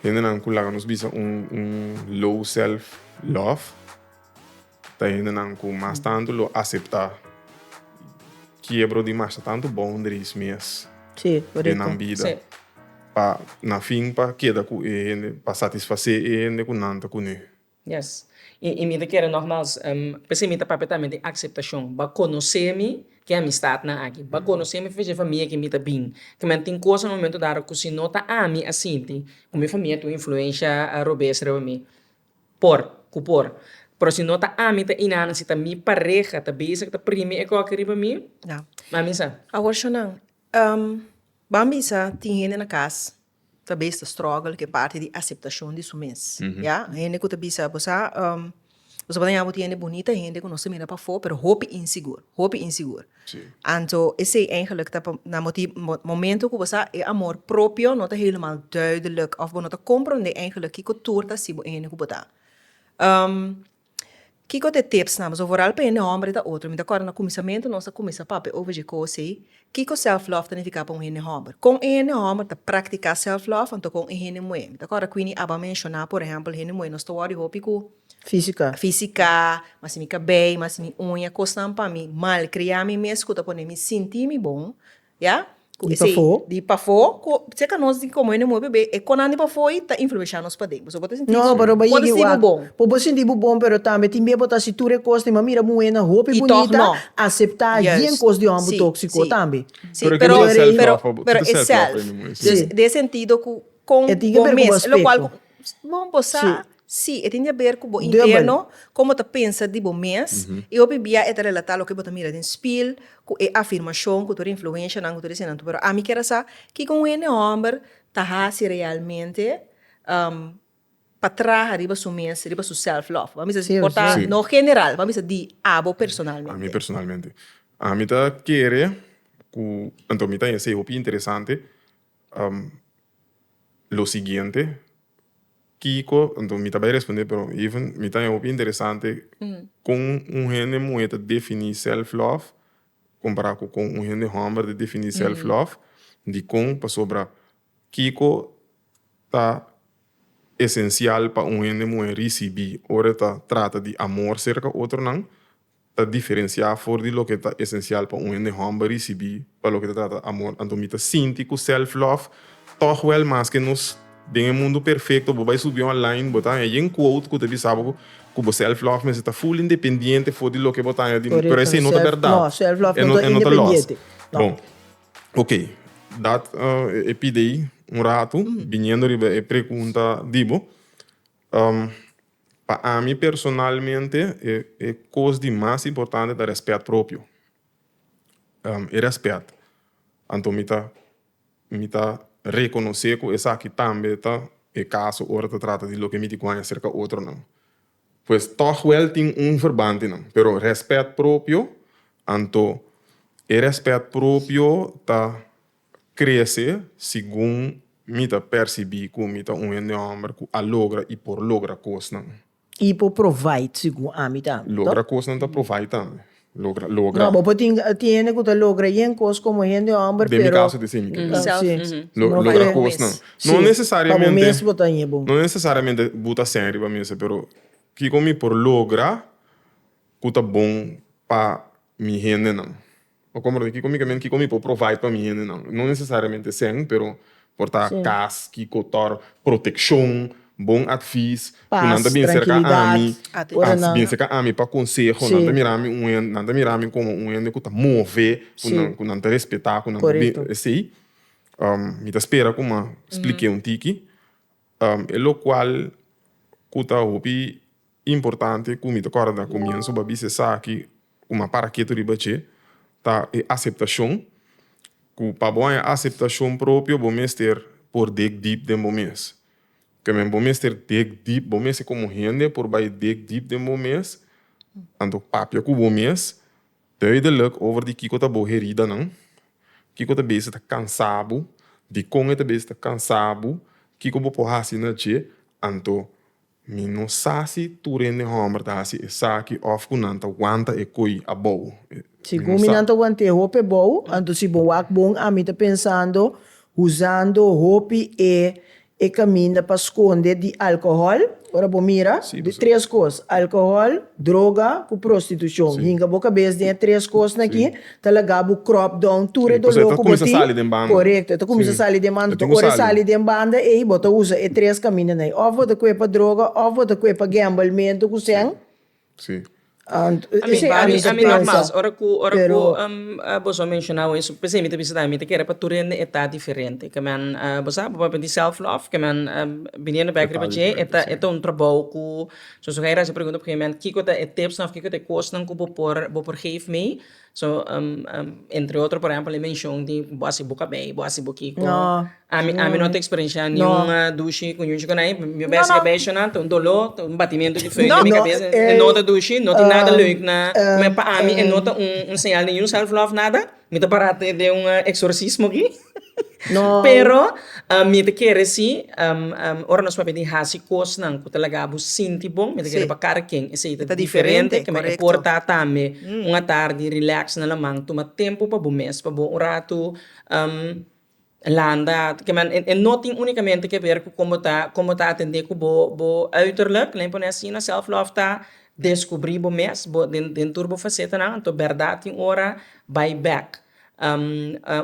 Hendenan ku laga nos bisa un un low self love ta hendenan ku mas tantu lo aseptá kiebro di masha tantu boundaries mes Sí, den korek. nan bida Sí. pa na fin pa keda ku e hende pa satisfasé e hende ku nan ta kuné. Yes. I i mi ta kere nogmals p'esei mi ta papia tambe di akseptashon. Bo a konosé mi ke amistatnan aki. Bo a konosé mi fei famia ke mi ta bin. Kaminda tin kosanan momentu dado ku si no ta ami a sinti ku mi famia ta un influensha robes riba mi, por ku por. Pero si no ta ami ta i nan, si ta mi pareha ta bizi ku ta primi e koke riba mi, m'a bisa. Awor, shonang, bo'a bisa tin hende na kas ta bes ta struggle ku e parti di aseptashon di su mes, ya. Hende ku ta bisa bo sa bo tabata ña bo tiende bunita, hende ku nos ta mira pafó pero hopi insigur, hopi insigur. Anto esei eigentlik ta por nan bo tin momento ku bo sa e amor propio no ta helemaal duidelijk òf bo no ta komprondé eigentlik kiko tur ta hasi bo e hende ku bo ta. Kiko ta e tips nan? Bo so voral paña un homber ta otro. Mi ta corda na cuminsamentu nos a cuminsa papia over dje cos ey. Kiko self love ta nifica pa un hende homber? Con e hende homber ta practica self love anto con e hende muhe? Mi ta corda Queenie aba menciona por ehempel hende muhe nos ta worry hopi cu fisica, mas si mi cabey, mas si mi uña, cosnan pa mi malcria mi mes cu ta pone mi sinti mi bon. Ya di pafó di pafó ku se ka nos di komo hende muebe be e konan di pafó ei ta influensha nos paden pasobra bo ta sinti bo bon bo ta sinti bo bon por bo sinti bo bon pero tambe tin bia bo ta hasi tur e kos tin bo a mira muhénan hopi bunita aseptá yen kos di hòmber tóksiko tambe pero pero e sèlf den e sentido ku kon bo mes lokual. Bon bo sa? Sí. Sí, e tin di haber cu bo Dubbel. interno, como ta pensa di bo mes, y hopi bia e ta relata loke bo ta mira den spiel, cu e afirmacion, cu tur e influencianan, cu tur eseinan tur. Pero ami kier a sa kico un hende homber ta haci realmente pa traha riba su mes, riba su self love. Vamos a bisa, Sí, por ta, sí. no general, vamos a bisa di abo personalmente. Ami personalmente. Ami ta kere cu, anto mi ta hesi hopi interesante. lo siguiente, kiko, enton mi ta bay respondé pero even mi ta hopi interesante kon un hende muhe ta defini self love compara cu kon un hende homber ta defini self love dikon pasobra kiko ta esencial pa un hende muhe ricibi ora e ta trata di amor cerca otronan. ta diferenciá for di loke ta esencial pa un hende hòmber ricibí pa loke ta trata amor. Anto mi ta sinti cu self-love tòg wèl mas ke nos. Den e mundu perfecto bo bai subí online bo taña yen quote cu ta bisa bo cu bo self-love mester ta full independiente for di loke bo taña di pero esei no ta berdad. E no ta lòs. Bon, ok, dat e pidei un ratu biniendo riba e pregunta di bo. Pa ami personalmente e cos di mas importante ta respet propio. E respet anto mi ta mi ta reconoce cu esaki tambe ta e caso ora ta trata di loke mi di guaña cerca otronan. Pues tog wel tin un verbante nan pero respet propio anto e respet propio ta. krese segun mi ta persibí ku mi ta un hende hòmber ku a logra i por logra kosnan. I por provide segun ami tambe, to? Logra kosnan ta provide tambe. Logra, logra. No, bo por tin, tin hende ku ta logra yen kos komo hende hòmber, pero. Den mi kaso ta esei mi ke kla. Self, si. mhm. Lo, No logra kere. kosnan. Si, No pa bo nesesariamente, mes bo ta un yebon. no nesesariamente bo ta sèn riba mesa, pero kiko mi por logra ku ta bon pa mi hendenan? Pa komber di kiko mi ta mira, kiko mi por provide pa mi hendenan, no nesesariamente esei, pero por ta kas, kiko tor, protekshon, bon atvis, ku nan ta bini serka ami, atens, bini serka ami pa konseho, nan ta mira mi un hende, nan ta mira mi komo un hende ku ta move, ku nan ta respetá, ku nan ta bini esei, mi ta spera kuma splike un tiki, E locual cu ta hopi importante cu mi ta corda na comienso bo a bisa esaki cu mi a para ketu riba dje ta e aceptacion, cu pa bo haña e aceptacion propio bo mester por dig diep den bo mes, ta kende bo mester dig diep, bo mes como hende por bay dig diep den bo mes, anto papia cu bo mes. Duidelijk over di kiko ta bo heridanan, kiko ta bes e ta kansa bo, dikon e ta bes ta kansa bo, kiko bo por hasi na dje, anto mi no sa si tur hende hòmber ta hasi esaki òf ku nan ta wanta e koi abou. Mi no sa. Nan ta want'é hopi abou, anto si bo wak bon, ami ta pensando huzando hopi e E caminda pa sconde di alcohol, ora bo mira, di tres cos, alcohol, droga cu prostitucion. Hinga bo cabes den e tres cosnan aki, ta laga bo crop down tur e dolor cu bo tin. Corecto, e ta cuminsa sali den banda tur. Ora e sali den banda ey, bo ta usa e tres camindanan ey. Of bo ta cue pa droga, of bo ta cue pa gambelmento cu sen. Sí. Ami ami nogmas ora cu ora cu boso a menciona hoy eso p'esei mi ta bisa tambe mi ta kere pa tur hende e ta diferente ke men bo sa bo papia di self love ke men biniendo bek riba dje e ta e ta un trabou cu so so hera haci pregunta op un gegemen moment kiko ta e tips of kiko ta e cosnan cu bo por bo por geef mi So, entre otro, por ehempel, e menshon di bo a hasi bo kabei, bo a hasi bo kiko. No. Ami, ami no ta eksperenshá niun dushi ku ñuchi konai. Mi bes i kabesha nan ta un doló, ta un batimentu di fei den mi kabesa. E no ta dushi, no tin nada leuk na. Me, pa ami e no ta un señal di niun self love nada. Mi ta pará te den un eksorsismo aki. Pero, mi ta kere si, ora nos papia di hasi kosnan ku ta laga bo sinti bon, mi ta kere pa kada ken esei ta diferente, kua mi a porta tambe un atardi relax na laman, tuma tempu pa bo mes, pa bo un ratu landa, e no tin únicamente ke ber ku kon bo ta kon bo ta atende ku bo bo uiterlijk, laat me pone asina, self love ta deskubri bo mes, bo den tur bo fasetenan, anto bèrdat tin ora bai bèk.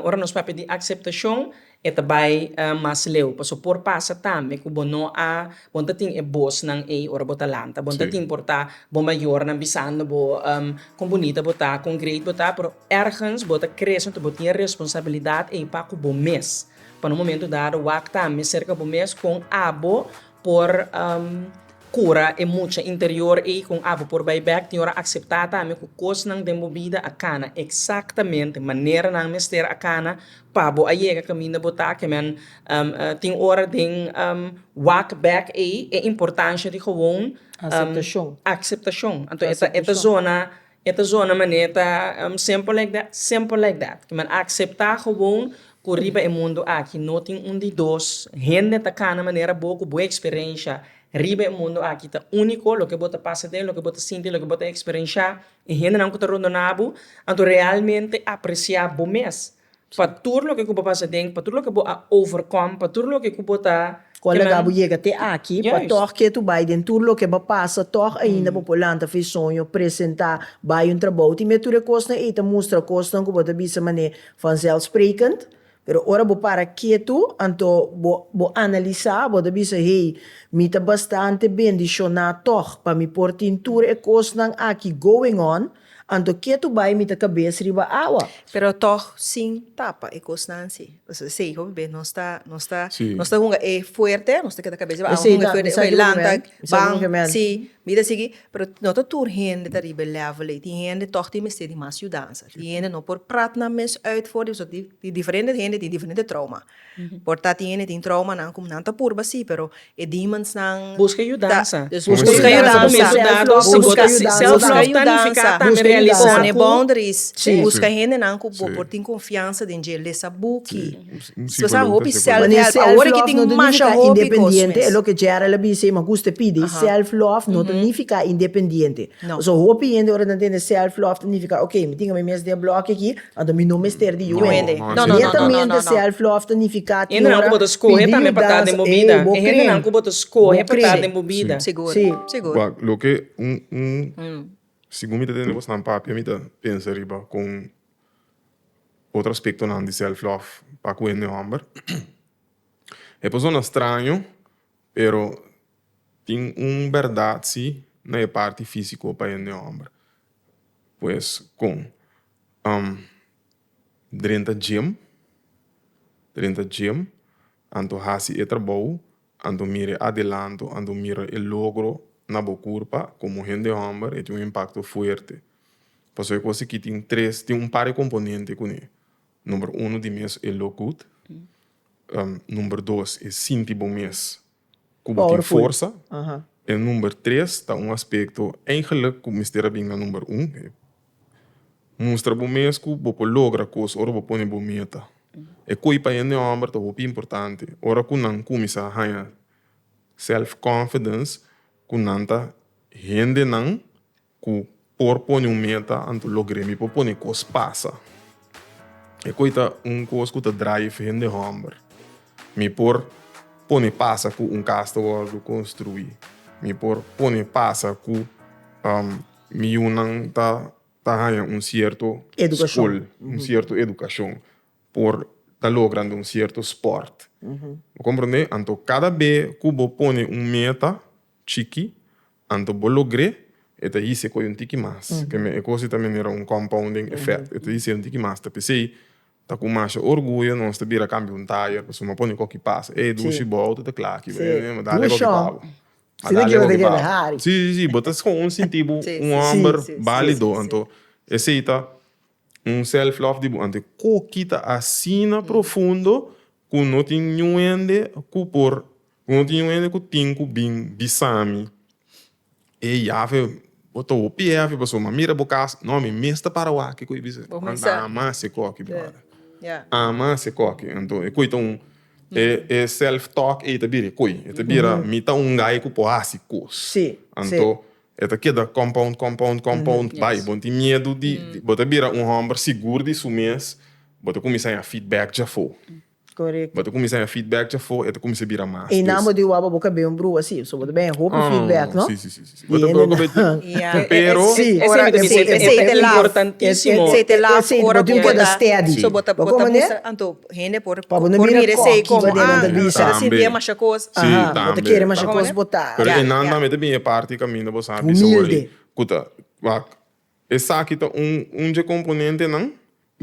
Ora nos papia di akseptashon, e ta bai mas leu, pasobra por pasa tambe ku bo no a, bo no ta tin e bosnan ei ora bo ta lanta, bo no ta tin por ta bo mayornan bisando bo kon bunita bo ta, kon greet bo ta, pero ergens bo ta kre esei, bo tin e responsabilidat ei pa ku bo mes, pa na un momento dado wak tambe serka bo mes kon abo por kura e mucha interior ei kon abo por bai bèk, tin ora akseptá tambe ku kosnan den bo bida a kana eksaktamente manera nan mester a kana pa bo a yega kaminda bo ta kemen tin ora den wak bèk ei e importansha di gewoon akseptashon anto e ta zona E ta zona manera e ta, simple like that, simple like that. Kiman a akseptá gewoon ku riba e mundu aki no tin un di dos, hende ta kana manera bo ku bo eksperensha riba e mundu aki ta úniko, loke bo ta pasa den, loke bo ta sinti, loke bo ta eksperenshá, e hendenan ku ta rondoná bo, anto realmente apresiá bo mes. pa tur loke ku bo pasa den, pa tur loke ku bo a overcome, pa tur loke ku bo ta Kon a laga bo yega te aki, pa tòg ke tu bai den tur loke bo pasa, tòg ainda bo por lanta fe soño, presentá, bai un trabou. Tin mia tur e kosnan ei ta mustra kosnan ku bo ta bisa manera vanzelfsprekend, pero ora bo para ketu, anto bo bo analisá, bo ta bisa, hey, mi ta bastante bendishoná tòg pa mi por tin tur e kosnan aki going on, Anto ke tu bai mita kabes riba awa? Pero tog sin tapa e kosnan si. Pasobra esei hopi bes nos ta nos ta nos ta hunga e fuerte, nos ta keda kabes riba awa, hunga e fuerte, oke lanta, ban, si, mira sigui, pero no ta tur hende ta riba e level ei, tin hende tog tin mester di mas yudansa, tin hende no por prat nan mes uit for di pasobra di diferente hende tin diferente trouma. Por ta tin hende tin troumanan ku nan ta purba sí, pero e demonsnan ta. Buska yudansa. Buska yudansa. Self-love ta nifiká tambe realisá ku. Pone boundaries. Buska hendenan ku bo por tin konfiansa den dje. Lesa buki. Bo sa hopi self-help. Awor aki tin masha hopi kos mes. Self-love no ta nifiká independiente, e loke Gerald a bisa i mi a gusta pidi. Self-love no ta nifiká independiente. Pasobra hopi hende ora nan tende self-love ta nifiká, ok, mi tin ami mes den blòki aki. Anto mi no mester di yuende. Sietamente self-love ta nifiká tin ora pidi yudansa. Ey, bo kren'an ku bo ta skohe pa tat den bo bida. Sigur. Wak, loke un, un, segun mi ta tende kosnan papia mi ta pensa riba kon otro aspektonan di self-love pa kuende hòmber. E por sona straño pero tin un bèrdat si na e parti físiko pa hende hòmber. Pues kon? drenta gym drenta gym anto hasi e trabou anto mira e adelanto anto mira e logro na bo curpa como hende homber e tin un impacto fuerte pasobra e cos aki tin tres tin un par di componente cuni number uno ti mes e look good number dos e sinti bo mes ku bo tin forsa. E number tres ta un aspekto eingeluk ku mester a bin na number un. Mustra bo mes ku bo por logra kos ora bo pone bo meta. E koe pa hende hòmber ta hopi importante. Ora ku nan kuminsá haña self-confidence ku nan ta hendenan. Ku por pone un meta anto logr'é. Mi por pone kos pasa. E koi ta un kos ku ta draai ef hende hòmber. Mi por pone pasa ku un kas ta wòrdu konstruí. Mi por pone pasa ku mi yunan ta ta haña un sierto skol, un sierto edukashon, por ta logrando un sierto spòrt. Bo komprendé? Anto kada be ku bo pone un meta chikí, Anto bo logr'é, e ta hise koe un tiki mas. Promé e kos ei ta minera un compounding effect. E ta hise un tiki mas. Ta p'esei, ta ku masha orguyo nos ta bira kambia un tire pa suma pone koki pasa. Hey, Dushi, bo auto ta kla aki. Bo ta dale koki pa bo. A dale koki pa bo. Sí, sí, sí. Bo ta skoon sinti bo un hòmber bálido. Anto esei ta un self love di bo. Anto e koki ta asina profundo ku no tin niun hende ku por Como tin un hende cu tin cu bin bisami, Ey, afe, bo ta hopi ey afe pasobra mi a mira bo casa. No, mi mes ta para wak, kico y bisa. Bo mester a. Anda ama ese coki, brother. Ya. Ama ese coki. Anto, e coi ta un, e, e self talk ey ta bira e coi. E ta bira, mi ta un guy cu por haci cos. Si, si. Anto, e ta keda compound, compound, compound. Yes. Bay, bo tin miedu di, bo ta bira un homber sigur di su mes, bo ta cuminsa a haya feedback djafo. Bo ta cuminsa haya feedback chafó e ta cuminsa bira mas. E nan bo ta iwaba bo cabey un bruha así so bo ta bay hopi feedback no. Sí sí sí sí bo ta bo cabey tin pero. Sí esey ta importantísimo esey ta laf ora bo ta da steady so bo ta bo ta bisa anto hende por por mira esey como ah e ta sinti demasha cos bo ta kere masha cos botá. Pero e nan tambe ta bin e parti caminda bo sabi so wor ey cuta wak Esaki ta un un dje komponentenan,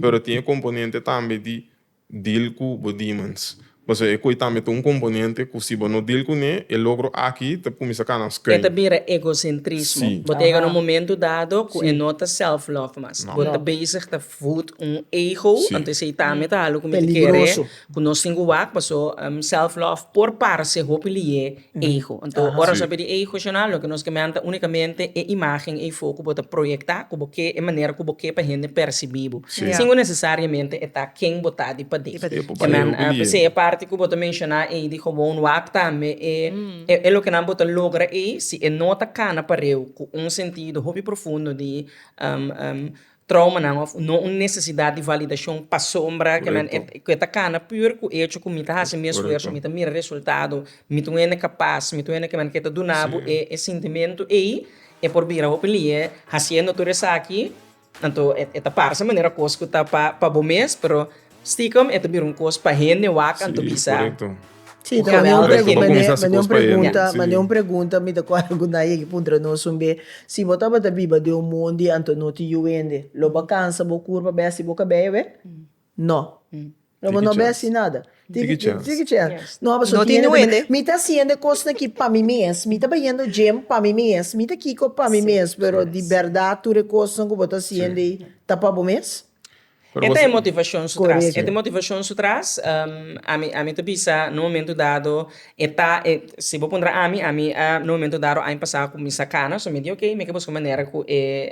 pero tin e komponente tambe di deal ku bo demons. Pasobra e koi tambe ta un komponente ku si bo no deal kuné, e logro aki ta kuminsá kana skun. E ta bira egosentrismo. Sí. Bo ta yega na un momento dado ku e no ta self-love mas. Bo ta bezig ta voed un ego, ento esei tambe ta algu ku mi ta kere ku nos tin ku wak, paso self-love por parse hopi liye. ego. Anto ora nos a bira di ego shona loke nos ke men ta unikamente e imágen ei fo ku bo ta proyektá ku bo ke e manera ku bo ke pa hende persibí bo sin ku nesesariamente e ta ken bo ta di padé. Ke men p'esei e parti ku bo ta menshoná ei di gewoon wak tambe e lokenan bo ta logra ei si e no ta kana pareu ku un sentido hopi profundo di. Traumanan of no un nesesidat di validashon pasobra ke men ke ta kana pur ku echo ku mi ta hasi mi esfuerso, mi ta mira resultado, mi ta un hende kapas, mi ta un hende ke men ke ta duna bo e e sintimentu ei, e por bira hopi lihe hasiendo tur esaki, anto e ta parse manera kos ku ta pa pa bo mes pero. Stikum e ta bira un kos pa hende wak anto bisa. Si, ta manda un pregunta, manda un pregunta, manda un pregunta mi ta kore ku nadie a ke puntra nos un be, si bo tabata biba den un mon di anto no tin yu hende, lo bo a kansa bo kur pa bes si bo kabeyo awe? No. Lo bo no bes nada. Tiki chance. Tiki chance. No paso tin hende. Mi ta hasi hende kosnan ki pa mi mes, mi ta bayendo gym pa mi mes, mi ta kiko pa mi mes, pero di berdad tur e kosnan ku bo ta hasi hende ei ta pa bo mes? E ta e motivacion su tras. E ta e motivacion su tras, ami, ami ta bisa na un momento dado e ta, e, si bo puntra ami, ami a, na un momento dado aña pasa cu mi sa cana, so mi di ok, mi ke busca manera cu e,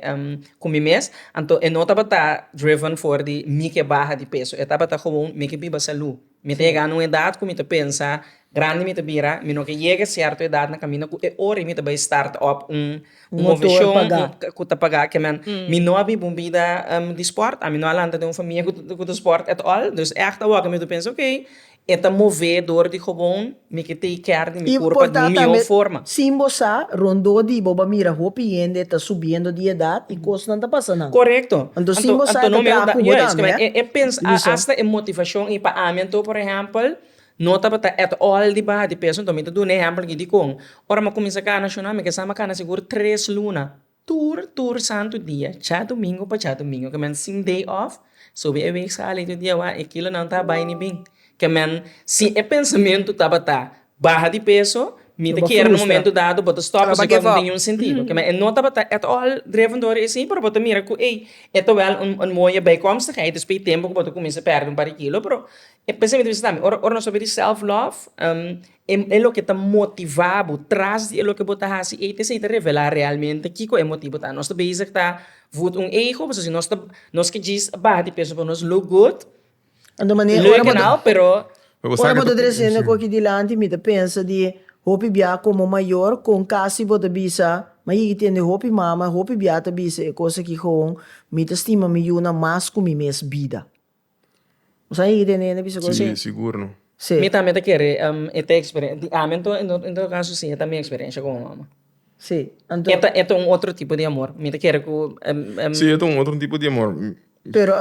cu mi mes, anto e no tabata driven for di mi ke baha di peso, e tabata gewoon mi ke biba salú. Mi ta yega na un edat ku mi ta pensa, Grandi mi ta bira, mi no ke yega sierto edat na kaminda ku e ora ei mi ta bai start op un moveshon ku ta paga. Kemen, mi no a biba un bida di sport, ami no a lanta den un famia ku ta sport at all. Dus ègt awoka mi ta pensa, ok, e ta move dor di hobon. Mi ke tei kèr di mi kurpa di un mihó forma. Importá tambe sin bo sa rondó di bo bo a mira hopi hende ta subiendo di edat i kosnan ta pasa nan. Korekto. Anto sin bo sa e ta traha ku bo tambe, eh? E pensa, a asta e motivashon i pa ami anto por ehèmpel no tabata at all di baha di peso. Anto mi ta duna ehèmpel aki dikon? Ora mi a kuminsá kana shonal mi ke sa mi a kana sigur tres luna. Tur tur santu dia, djadumingu pa djadumingu, ke men sin day off, subi e week sali tur dia wak, e kilonan ta bai ni bin. Ke men si e pensamentu tabata baha di peso, mi ta kier na momento dado bo ta stop esei kos no tin niun sentido. Ke men e no tabata at all driven door esei, pero bo ta mira ku ei, e ta wel un un moye bijkomstigheid despues tempo ku bo ta kuminsa pèrdè un par di kilo, pero e pensamentu bisha tambe ora ora nos a bini di self love E loke ta motivá bo tras di e loke bo ta hasi ei ta esei ta revelá realmente kiko e motibu ta. Nos ta bezig ta wurd un ego pasobra si nos ta nos ke djis baha di peso pasobra nos look good, leuk en al pero. Ora bo ta tresende ku aki dilanti mi ta pensa di hopi bia komo mayor kon kasi bo ta bisa, ma yigi tende hopi mama, hopi bia ta bisa e kos aki, Gewoon, mi ta stima mi yunan mas ku mi mes bida. Si, sigur no. Mi tambe ta kere e ta experiencia di ami anto en todo caso si e ta mi experiencia como mama. E ta un otro tipo di amor mi ta kere cu. Si e ta un otro tipo di amor.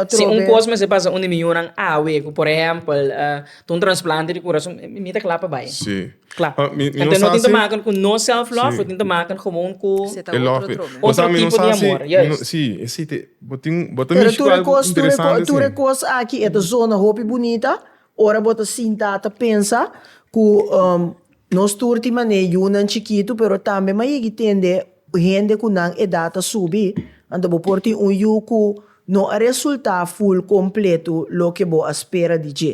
Si un cos mester pasa un di mi yunan awe cu por ehempel ta un transplante di curason mi ta cla pa bay. Kla. Pa mi, mi no Enta no sa tin te si- maken ku no self love, lo tin te maken gewoon ku Se ta e otro love mi. dromen. Otro Pasabi, mi no tipo sa di si- amor, mi no- yes. Si, e si te, bo tin, bo ta Pero mishi tur ku e algu kos, tur e kos, interesante tur e si. kos aki e ta zona hopi bunita ora bo ta sinta ta pensa ku um nos tur tin mane yunan chikitu pero tambe mi a yigi tende hende ku nan edat a subi anto bo por tin un yu ku no a resulta ful kompletu loke bo a spera di dje.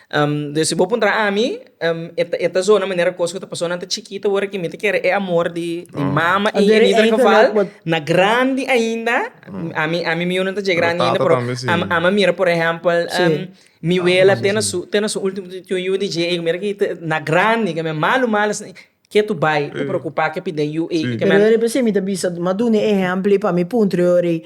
Dor si bo puntra ami, e ta zona manera kos ku ta pasó nan ta chikito wor aki mi ta kere e amor di mama i mi ta fafal na grandi ainda, ami ami mi yu no ta dje grandi ainda pero ami a mira por ehèmpel mi wela te na su te na su ultimo ti un yu di dje ei ku mira aki na grandi ke mi malu malu asina ke tu bai ta preokupa ke piden yu ei. Pero mi ta bisa maduna ehèmpel ei pa mi puntra yor ei.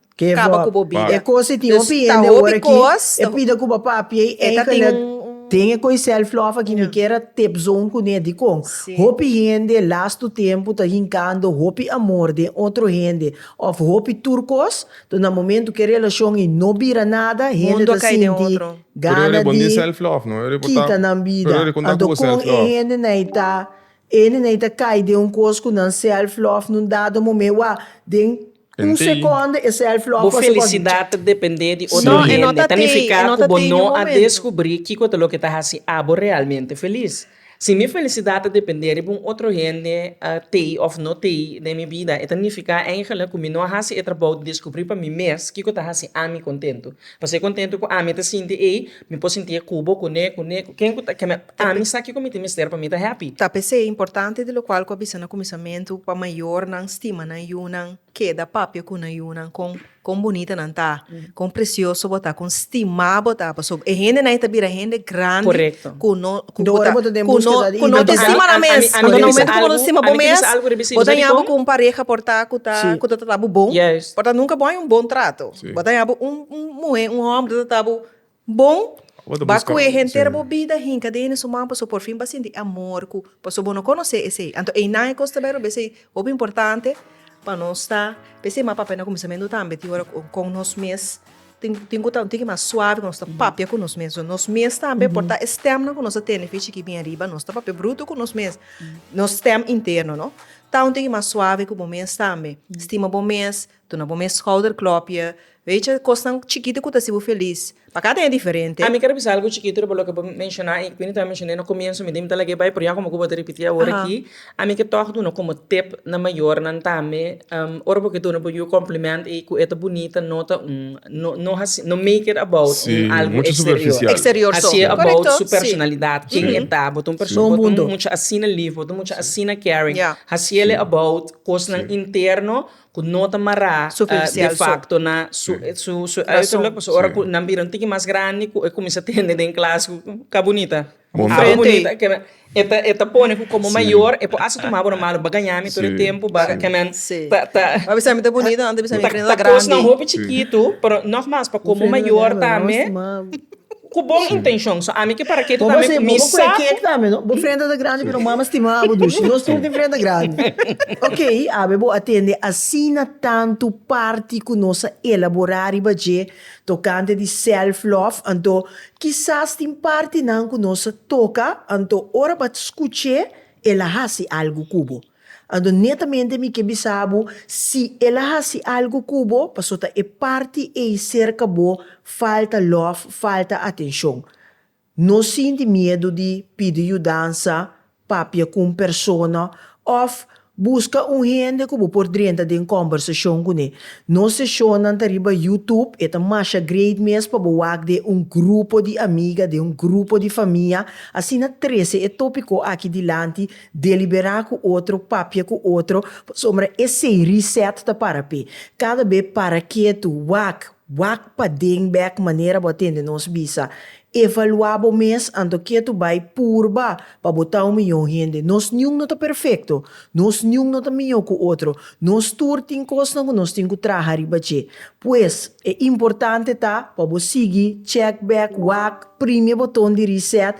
Kaba ku bo bida. Dus ta hopi kos. E ta tin un. Den e koe self love aki mi kier a tep zoom kuné dikon hopi hende lastu tempu ta hinkando hopi amor den otro hende of hopi tur kos to na momentu ke relashon i no bira nada hende ta sinti gana di kita nan bida anto kon e hende nai ta hende nai ta kai den un kos ku nan self love nun dado momé wak den. Un sekònde, e sèlf lòk Bo felisidad ta dependé di otro hende ta nifiká ku bo no a deskubrí kiko ta loke ta hasi abo realmente felis. Si mi felisidad ta dependé riba un otro hende a tei òf no tei den mi bida, e ta nifiká èngele ku mi no a hasi e trabou di deskubrí pa mi mes kiko ta hasi ami kontentu. Pas'e kontentu ku ami ta sinti ei, Mi por sinti e kubo ku ne ku ne ku ken ku ta ke me ami sa kiko mi tin mester pa mi ta happy. Ta p'esei importante di lokual ku a bisa na kuminsamentu pa mayornan stima nan yunan keda papia ku nan yunan kon kon bunita nan ta kon presioso bo ta kon stimá bo ta pasobra e hendenan e ta bira hende grandi ku no ku ku ta ku no ku no ta stima nan mes ando na momentu ku bo ta stima bo mes bo ta yabi ku un pareha por ta ku ta ku ta trata bo bon por ta nunka bo a haña un bon trato bo ta yabi un un muhé un hòmber ta trata bo. Bon ba cu e henter bo bida hinca den e su man pasobra por fin ba sinti e amor cu pasobra bo no conoce esey anto eynan e cos ta bero besey hopi importante pa nos ta besey mas papia na cuminsamentu tambe tin ora cu con nos mes tin tin cu ta un tiki mas suave cu nos ta papia cu nos mes so nos mes tambe por ta e stemnan cu nos ta tene pichi ki bien riba nos ta papia bruto cu nos mes nos stem interno no ta un tiki mas suave cu bo mes tambe stima bo mes. Tuna bo mes schouder klopje. Weetje, e kosnan chikiti ku ta hasi bo felis. Pa kada un e diferente. Ami ker bisa algu chikito riba loke bo menshoná i ku mi tabata menshoné na komienso mi tin ta lag'é bai pero ya komo ku bo ta ripití awor aki ami ke tòg duna komo tip na mayornan tambe ora bo ke duna bo yu e kòmplemènt ei ku e ta bunita no ta un no no hasi no make it about un algu eksterior hasié about su personalidat ken e ta bo ta un persona bo ta un mucha asina lif bo ta un mucha asina caring hasiel e about kosnan interno. ku no ta mará de fakto na su su uiterlijk pasobra ora ku nan bira un tiki mas grandi ku e kuminsá tende den klas ku ka bunita abo bunita keme e ta pone ku komo mayor e por hasta tuma bo na malu ba gaña mi tur e tempu ba ke men ta ta ta kosnan hopi chikitu pero nògmas pa komo mayor tambe. Ku bon intenshon. So ami ke para ke tu ta mi mi sa ku. Bo frenta ta grandi pero mama stima abo dushi. Nos tur tin frenta grandi. Ok, awe bo a tende asina tantu parti ku nos a elaborá riba dje tokante di self love, anto kisas tin partinan ku nos a toka, anto ora bo a skuch'é el a hasi algu ku bo. Adonetamente mi ke bisa bo, si el a hasi algu ku bo, pasobra e parti ei serka bo falta lòf, falta atenshon. No sinti miedu di pidi yudansa, papia ku un persona, òf buska un hende ku bo por drenta den kòmbersashon kuné. Nos seshonnan ta riba YouTube, e ta masha great mes pa bo wak den un grupo di amiga, den un grupo di famia. Asina trese e tópiko aki dilanti Deliberá ku otro, papia ku otro, pasobra esei reset ta para p'e. Kada be para ketu, wak, wak paden bèk manera bo a tende nos bisa. Evaluá bo mes anto ketu bai purba pa bo ta un mihó hende. Nos niun no ta perfekto, nos niun no ta mihó ku otro, nos tur tin kosnan ku nos tin ku traha riba dje. Pues, e importante ta pa bo sigui, chèk bèk, wak, prim'e boton di reset,